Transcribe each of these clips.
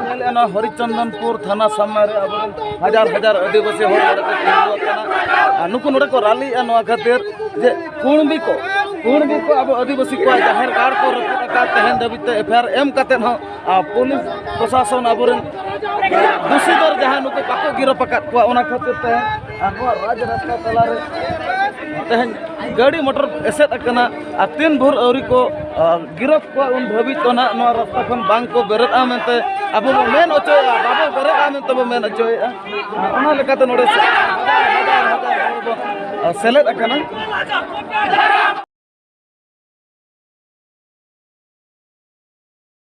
ᱧᱮᱞᱮᱫᱼᱟ ᱦᱚᱨᱤᱪᱚᱱᱫᱚᱱᱯᱩᱨ ᱛᱷᱟᱱᱟ ᱥᱟᱢᱱᱟ ᱨᱮ ᱟᱵᱚᱨᱮᱱ ᱦᱟᱡᱟᱨ ᱦᱟᱡᱟᱨ ᱟᱹᱫᱤᱵᱟᱹᱥᱤ ᱦᱚᱲ ᱱᱚᱰᱮ ᱠᱚ ᱛᱤᱸᱜᱩ ᱟᱠᱟᱱᱟ ᱟᱨ ᱱᱩᱠᱩ ᱱᱚᱰᱮ ᱠᱚ ᱨᱟᱞᱤᱜᱼᱟ ᱱᱚᱣᱟ ᱠᱷᱟᱹᱛᱤᱨ ᱡᱮ ᱠᱩᱬᱵᱤ ᱠᱚ ᱠᱩᱬᱵᱤ ᱠᱚ ᱟᱵᱚ ᱟᱹᱫᱤᱵᱟᱹᱥᱤ ᱠᱚᱣᱟᱜ ᱡᱟᱦᱮᱨ ᱜᱟᱲ ᱠᱚ ᱨᱟᱹᱯᱩᱫ ᱟᱠᱟᱫ ᱛᱮᱦᱮᱧ ᱫᱷᱟᱹᱵᱤᱡ ᱛᱮ ᱮᱯᱷ ᱟᱭ ᱟᱨ ᱮᱢ ᱠᱟᱛᱮᱫ ᱦᱚᱸ ᱯᱩᱞᱤᱥ ᱯᱨᱚᱥᱟᱥᱚᱱ ᱟᱵᱚᱨᱮᱱ ᱫᱩᱥᱤ ᱫᱚ ᱡᱟᱦᱟᱸᱭ ᱱᱩᱠᱩ ᱵᱟᱠᱚ ᱜᱤᱨᱟᱯ ᱟᱠᱟᱫ ᱠᱚᱣᱟ ᱚᱱᱟ ᱠᱷᱟᱹᱛᱤᱨ ᱛᱮ ᱟᱵᱚᱣᱟᱜ ᱨᱟᱡᱽ ᱨᱟᱥᱛᱟ ᱛᱟᱞᱟᱨᱮ ᱛᱮᱦᱮᱧ ᱜᱟᱹᱰᱤ ᱢᱚᱴᱚᱨ ᱮᱥᱮᱫ ᱟᱠᱟᱱᱟ ᱟᱨ ᱛᱤᱱ ᱵᱷᱳᱨ ᱟᱹᱣᱨᱤ ᱠᱚ ᱜᱤᱨᱚᱯ ᱠᱚᱣᱟ ᱩᱱ ᱫᱷᱟᱹᱵᱤᱡ ᱫᱚ ᱱᱟᱦᱟᱜ ᱱᱚᱣᱟ ᱨᱟᱥᱛᱟ ᱠᱷᱚᱱ ᱵᱟᱝ ᱠᱚ ᱵᱮᱨᱮᱫᱼᱟ ᱢᱮᱱᱛᱮ ᱟᱵᱚ ᱵᱚ ᱢᱮᱱ ᱦᱚᱪᱚᱭᱮᱫᱼᱟ ᱵᱟᱵᱚ ᱵᱮᱨᱮᱫᱼᱟ ᱢᱮᱱᱛᱮ ᱵᱚ ᱢᱮᱱ ᱦᱚᱪᱚᱭᱮᱫᱼᱟ ᱚᱱᱟ ᱞᱮᱠᱟᱛᱮ ᱱᱚᱰᱮ ᱥᱮᱞᱮᱫ ᱟᱠᱟᱱᱟ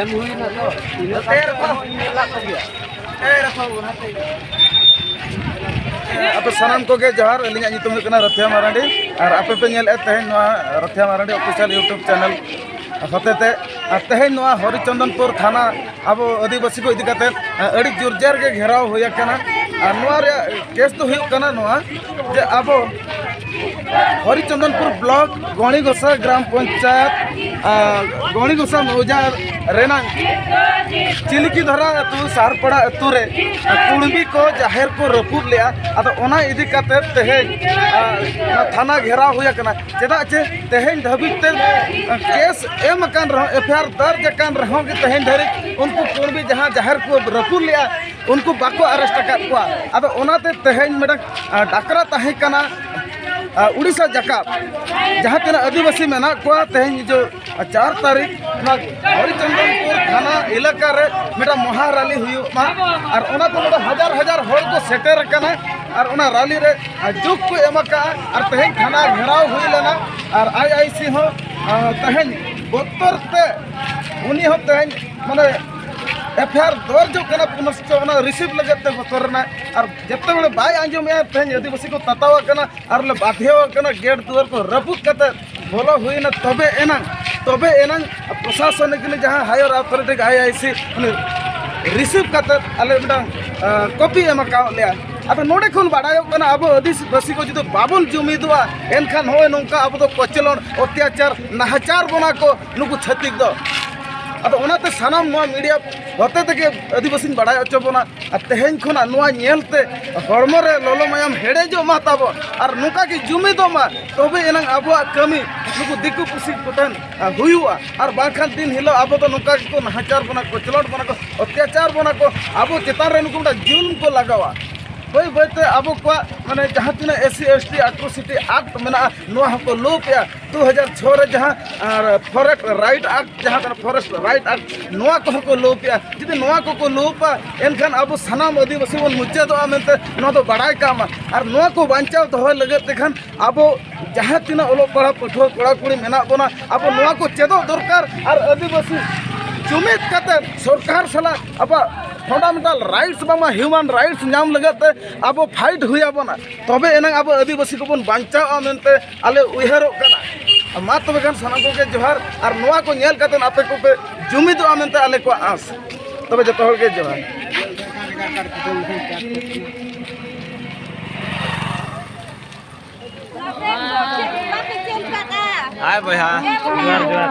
ᱮᱢ ᱦᱩᱭᱱᱟ ᱛᱚ ᱤᱱᱟᱹ ᱟᱯᱮ ᱥᱟᱱᱟᱢ ᱠᱚᱜᱮ ᱡᱚᱦᱟᱨ ᱟᱹᱞᱤᱧᱟᱜ ᱧᱩᱛᱩᱢ ᱦᱩᱭᱩᱜ ᱠᱟᱱᱟ ᱨᱟᱛᱷᱤᱭᱟ ᱢᱟᱨᱟᱱᱰᱤ ᱟᱨ ᱟᱯᱮ ᱯᱮ ᱧᱮᱞᱮᱫ ᱛᱮᱦᱮᱧ ᱱᱚᱣᱟ Rathia Marandi official YouTube channel ᱦᱚᱛᱮᱛᱮ ᱟᱨ ᱛᱮᱦᱮᱧ ᱱᱚᱣᱟ ᱦᱚᱨᱤᱪᱚᱱᱫᱚᱱᱯᱩᱨ ᱛᱷᱟᱱᱟ ᱟᱵᱚ ᱟᱹᱫᱤᱵᱟᱹᱥᱤ ᱠᱚ ᱤᱫᱤ ᱠᱟᱛᱮ ᱟᱹᱰᱤ ᱡᱳᱨᱡᱟᱨ ᱜᱮ ᱜᱷᱮᱨᱟᱣ ᱦᱩᱭ ᱟᱠᱟᱱᱟ ᱟᱨ ᱱᱚᱣᱟ ᱨᱮᱭᱟᱜ ᱠᱮᱥ ᱫᱚ ᱦᱩᱭᱩᱜ ᱠᱟᱱᱟ ᱱᱚᱣᱟ ᱡᱮ ᱟᱵᱚ ᱦᱚᱨᱤᱪᱚᱱᱫᱚᱱᱯᱩᱨ ᱵᱞᱚᱠ ᱜᱚᱬᱤ ᱜᱚᱥᱟ ᱜᱨᱟᱢ ᱯᱚᱧᱪᱟᱭᱮᱛ ᱜᱚᱬᱤ ᱜᱚᱥᱟ ᱢᱚᱣᱡᱟ ᱨᱮᱱᱟᱜ ᱪᱤᱞᱤᱠᱤ ᱫᱷᱟᱨᱟ ᱟᱹᱛᱩ ᱥᱟᱨᱯᱟᱲᱟ ᱟᱹᱛᱩ ᱨᱮ ᱠᱩᱲᱵᱤ ᱠᱚ ᱡᱟᱦᱮᱨ ᱠᱚ ᱨᱟᱹᱯᱩᱫ ᱞᱮᱜᱼᱟ ᱟᱫᱚ ᱚᱱᱟ ᱤᱫᱤ ᱠᱟᱛᱮ ᱛᱮᱦᱮᱧ ᱛᱷᱟᱱᱟ ᱜᱷᱮᱨᱟᱣ ᱦᱩᱭ ᱟᱠᱟᱱᱟ ᱪᱮᱫᱟᱜ ᱪᱮ ᱛᱮᱦᱮᱧ ᱫᱷᱟᱹᱵᱤᱡ ᱛᱮ ᱠᱮᱥ ᱮᱢ ᱟᱠᱟᱱ ᱨᱮᱦᱚᱸ ᱮᱯᱷ ᱟᱭ ᱟᱨ ᱫᱟᱨᱡᱽ ᱟᱠᱟᱱ ᱨᱮᱦᱚᱸ ᱜᱮ ᱛᱮᱦᱮᱧ ᱫᱷᱟᱹᱨᱤᱡ ᱩᱱᱠᱩ ᱠᱩᱬᱵᱤ ᱡᱟᱦᱟᱸ ᱡᱟᱦᱮᱨ ᱠᱚ ᱨᱟᱹᱯᱩᱫ ᱞᱮᱜᱼᱟ ᱩᱱᱠᱩ ᱵᱟᱠᱚ ᱟᱨᱮᱥᱴ ᱟᱠᱟᱫ ᱠᱚᱣᱟ ᱟᱫᱚ ᱚᱱᱟᱛᱮ ᱛᱮᱦᱮᱧ ᱢᱤᱫᱴᱟᱝ ᱰᱟᱠᱨᱟ ᱛᱟᱦᱮᱸ ᱠᱟᱱᱟ ᱩᱲᱤᱥᱥᱟ ᱡᱟᱠᱟᱛ ᱡᱟᱦᱟᱸ ᱛᱤᱱᱟᱹᱜ ᱟᱹᱫᱤᱵᱟᱹᱥᱤ ᱢᱮᱱᱟᱜ ᱠᱚᱣᱟ ᱛᱮᱦᱮᱧ ᱡᱮ ᱪᱟᱨ ᱛᱟᱹᱨᱤᱠᱷ ᱚᱱᱟ ᱦᱚᱨᱤᱪᱚᱱᱫᱚᱱᱯᱩᱨ ᱛᱷᱟᱱᱟ ᱮᱞᱟᱠᱟ ᱨᱮ ᱢᱤᱫᱴᱟᱝ ᱢᱚᱦᱟ ᱨᱟᱞᱤ ᱦᱩᱭᱩᱜ ᱢᱟ ᱟᱨ ᱚᱱᱟ ᱫᱚ ᱱᱚᱰᱮ ᱦᱟᱡᱟᱨ ᱦᱟᱡᱟᱨ ᱦᱚᱲ ᱠᱚ ᱥᱮᱴᱮᱨ ᱟᱠᱟᱱᱟ ᱟᱨ ᱚᱱᱟ ᱨᱟᱞᱤ ᱨᱮ ᱡᱩᱜᱽ ᱠᱚ ᱮᱢ ᱟᱠᱟᱜᱼᱟ ᱟᱨ ᱛᱮᱦᱮᱧ ᱛᱷᱟᱱᱟ ᱜᱷᱮᱨᱟᱣ ᱦᱩᱭ ᱞᱮᱱᱟ ᱟᱨ ᱟᱭ ᱟᱭ ᱥᱤ ᱦᱚᱸ ᱛᱮᱦᱮᱧ ᱵᱚᱛᱚᱨ ᱛᱮ ᱩᱱᱤ ᱦᱚᱸ ᱛᱮᱦᱮᱧ ᱢᱟᱱᱮ ᱮᱯᱷ ᱟᱭ ᱟᱨ ᱫᱚᱨᱡᱽ ᱠᱟᱱᱟ ᱯᱩᱱᱚᱥᱪᱚ ᱚᱱᱟ ᱨᱤᱥᱤᱵᱷ ᱞᱟᱹᱜᱤᱫ ᱛᱮ ᱵᱚᱛᱚᱨ ᱮᱱᱟᱭ ᱟᱨ ᱡᱚᱛᱚ ᱦᱚᱲ ᱵᱟᱭ ᱟᱸᱡᱚᱢᱮᱜᱼᱟ ᱛᱮᱦᱮᱧ ᱟᱹᱫᱤᱵᱟᱹᱥᱤ ᱠᱚ ᱛᱟᱛᱟᱣ ᱟᱠᱟᱱᱟ ᱟᱨ ᱞᱮ ᱵᱟᱫᱷᱭᱚ ᱟᱠᱟᱱᱟ ᱜᱮᱴ ᱫᱩᱣᱟᱹᱨ ᱠᱚ ᱨᱟᱹᱯᱩᱫ ᱠᱟᱛᱮᱫ ᱵᱚᱞᱚ ᱦᱩᱭᱱᱟ ᱛᱚᱵᱮ ᱮᱱᱟᱝ ᱛᱚᱵᱮ ᱮᱱᱟᱝ ᱯᱨᱚᱥᱟᱥᱚᱱᱤᱠ ᱡᱟᱦᱟᱸ ᱦᱟᱭᱟᱨ ᱟᱛᱷᱚᱨᱤᱴᱤ ᱟᱭ ᱟᱭ ᱥᱤ ᱨᱤᱥᱤᱵᱷ ᱠᱟᱛᱮ ᱟᱞᱮ ᱢᱤᱫᱴᱟᱝ ᱠᱚᱯᱤ ᱮᱢ ᱟᱠᱟᱫ ᱞᱮᱭᱟ ᱟᱫᱚ ᱱᱚᱰᱮ ᱠᱷᱚᱱ ᱵᱟᱰᱟᱭᱚᱜ ᱠᱟᱱᱟ ᱟᱵᱚ ᱟᱹᱫᱤᱵᱟᱹᱥᱤ ᱠᱚ ᱡᱩᱫᱤ ᱵᱟᱵᱚᱱ ᱡᱩᱢᱤᱫᱚᱜᱼᱟ ᱮᱱᱠᱷᱟᱱ ᱱᱚᱜᱼᱚᱭ ᱱᱚᱝᱠᱟ ᱟᱵᱚ ᱫᱚ ᱠᱚᱪᱞᱚᱱ ᱚᱛᱛᱟᱪᱟᱨ ᱱᱟᱦᱟᱪᱟᱨ ᱵᱚᱱᱟ ᱠᱚ ᱱᱩᱠᱩ ᱪᱷᱟᱹᱛᱤᱠ ᱫᱚ ᱟᱫᱚ ᱚᱱᱟᱛᱮ ᱥᱟᱱᱟᱢ ᱱᱚᱣᱟ ᱢᱤᱰᱤᱭᱟ ᱦᱚᱛᱮ ᱛᱮᱜᱮ ᱟᱹᱫᱤᱵᱟᱹᱥᱤᱧ ᱵᱟᱲᱟᱭ ᱦᱚᱪᱚ ᱵᱚᱱᱟ ᱟᱨ ᱛᱮᱦᱮᱧ ᱠᱷᱚᱱᱟᱜ ᱱᱚᱣᱟ ᱧᱮᱞᱛᱮ ᱦᱚᱲᱢᱚ ᱨᱮ ᱞᱚᱞᱚ ᱢᱟᱭᱟᱢ ᱦᱮᱰᱮᱡᱚᱜ ᱢᱟ ᱛᱟᱵᱚᱱ ᱟᱨ ᱱᱚᱝᱠᱟ ᱜᱮ ᱡᱩᱢᱤᱫᱚᱜ ᱢᱟ ᱛᱚᱵᱮ ᱮᱱᱟᱝ ᱟᱵᱚᱣᱟᱜ ᱠᱟᱹᱢᱤ ᱱᱩᱠᱩ ᱫᱤᱠᱩ ᱯᱩᱥᱤ ᱠᱚᱴᱷᱮᱱ ᱦᱩᱭᱩᱜᱼᱟ ᱟᱨ ᱵᱟᱝᱠᱷᱟᱱ ᱫᱤᱱ ᱦᱤᱞᱳᱜ ᱟᱵᱚ ᱫᱚ ᱱᱚᱝᱠᱟ ᱜᱮᱠᱚ ᱱᱟᱦᱟᱪᱟᱨ ᱵᱚᱱᱟ ᱠᱚ ᱠᱚᱪᱞᱚᱱ ᱵᱚᱱᱟ ᱠᱚ ᱚᱛᱛᱟᱪᱟᱨ ᱵᱚᱱᱟ ᱠᱚ ᱟᱵᱚ ᱪᱮᱛᱟᱱ ᱨᱮ ᱱᱩᱠᱩ ᱢᱤᱫᱴᱟᱝ ᱡᱩᱞᱩᱢ ᱠᱚ ᱞᱟᱜᱟᱣᱟ ᱵᱟᱹᱭ ᱵᱟᱹᱭᱛᱮ ᱟᱵᱚ ᱠᱚᱣᱟᱜ ᱢᱟᱱᱮ ᱡᱟᱦᱟᱸ ᱛᱤᱱᱟᱹᱜ S C S T atrocity act ᱢᱮᱱᱟᱜᱼᱟ ᱱᱚᱣᱟ ᱦᱚᱸᱠᱚ ᱞᱳᱯ ᱮᱜᱼᱟ ᱫᱩ ᱦᱟᱡᱟᱨ ᱪᱷᱚ ᱨᱮ ᱡᱟᱦᱟᱸ ᱯᱷᱚᱨᱮᱥᱴ ᱨᱟᱭᱤᱴ ᱟᱠᱴ ᱡᱟᱦᱟᱸ ᱠᱟᱱᱟ ᱯᱷᱚᱨᱮᱥᱴ ᱨᱟᱭᱤᱴ ᱟᱠᱴ ᱱᱚᱣᱟ ᱠᱚᱦᱚᱸ ᱠᱚ ᱞᱳᱯ ᱮᱜᱼᱟ ᱡᱩᱫᱤ ᱱᱚᱣᱟ ᱠᱚᱠᱚ ᱞᱳᱯᱟ ᱮᱱᱠᱷᱟᱱ ᱟᱵᱚ ᱥᱟᱱᱟᱢ ᱟᱹᱫᱤᱵᱟᱹᱥᱤ ᱵᱚᱱ ᱢᱩᱪᱟᱹᱫᱚᱜᱼᱟ ᱢᱮᱱᱛᱮ ᱱᱚᱣᱟ ᱫᱚ ᱵᱟᱲᱟᱭ ᱠᱟᱜ ᱢᱟ ᱟᱨ ᱱᱚᱣᱟ ᱠᱚ ᱵᱟᱧᱪᱟᱣ ᱫᱚᱦᱚᱭ ᱞᱟᱹᱜᱤᱫ ᱛᱮᱠᱷᱟᱱ ᱟᱵᱚ ᱡᱟᱦᱟᱸ ᱛᱤᱱᱟᱹᱜ ᱚᱞᱚᱜ ᱯᱟᱲᱦᱟᱣ ᱯᱟᱹᱴᱷᱩᱣᱟᱹ ᱠᱚᱲᱟ ᱠᱩᱲᱤ ᱢᱮᱱᱟᱜ ᱵᱚᱱᱟ ᱟᱵᱚ ᱱᱚᱣᱟ ᱠᱚ ᱪᱮᱫᱚᱜ ᱫᱚᱨᱠᱟᱨ ᱟᱨ ᱟᱹᱫᱤᱵᱟᱹᱥᱤ ᱡᱩᱢᱤᱫ ᱠᱟᱛᱮ ᱥᱚᱨᱠᱟᱨ ᱥᱟᱞᱟᱜ ᱟᱵᱚᱣᱟᱜ ᱯᱷᱟᱱᱰᱟᱢᱮᱱᱴᱟᱞ ᱨᱟᱭᱤᱴᱥ ᱵᱟᱝᱢᱟ ᱦᱤᱭᱩᱢᱟᱱ ᱨᱟᱭᱤᱴᱥ ᱧᱟᱢ ᱞᱟᱹᱜᱤᱫ ᱛᱮ ᱟᱵᱚ ᱯᱷᱟᱭᱤᱴ ᱦᱩᱭ ᱟᱵᱚᱱᱟ ᱛᱚᱵᱮ ᱮᱱᱟᱝ ᱟᱵᱚ ᱟᱹᱫᱤᱵᱟᱹᱥᱤ ᱠᱚᱵᱚᱱ ᱵᱟᱧᱪᱟᱣᱜᱼᱟ ᱢᱮᱱᱛᱮ ᱟᱞᱮ ᱩᱭᱦᱟᱹᱨᱚᱜ ᱠᱟᱱᱟ ᱢᱟ ᱛᱚᱵᱮ ᱠᱷᱟᱱ ᱥᱟᱱᱟᱢ ᱠᱚᱜᱮ ᱡᱚᱦᱟᱨ ᱟᱨ ᱱᱚᱣᱟ ᱠᱚ ᱧᱮᱞ ᱠᱟᱛᱮ ᱟᱯᱮ ᱠᱚᱯᱮ ᱡᱩᱢᱤᱫᱚᱜᱼᱟ ᱢᱮᱱᱛᱮ ᱟᱞᱮ ᱠᱚᱣᱟᱜ ᱟᱸᱥ ᱛᱚᱵᱮ ᱡᱚᱛᱚ ᱦᱚᱲ ᱜᱮ ᱡᱚᱦᱟᱨ Hai, Boy, ha. Jual, jual.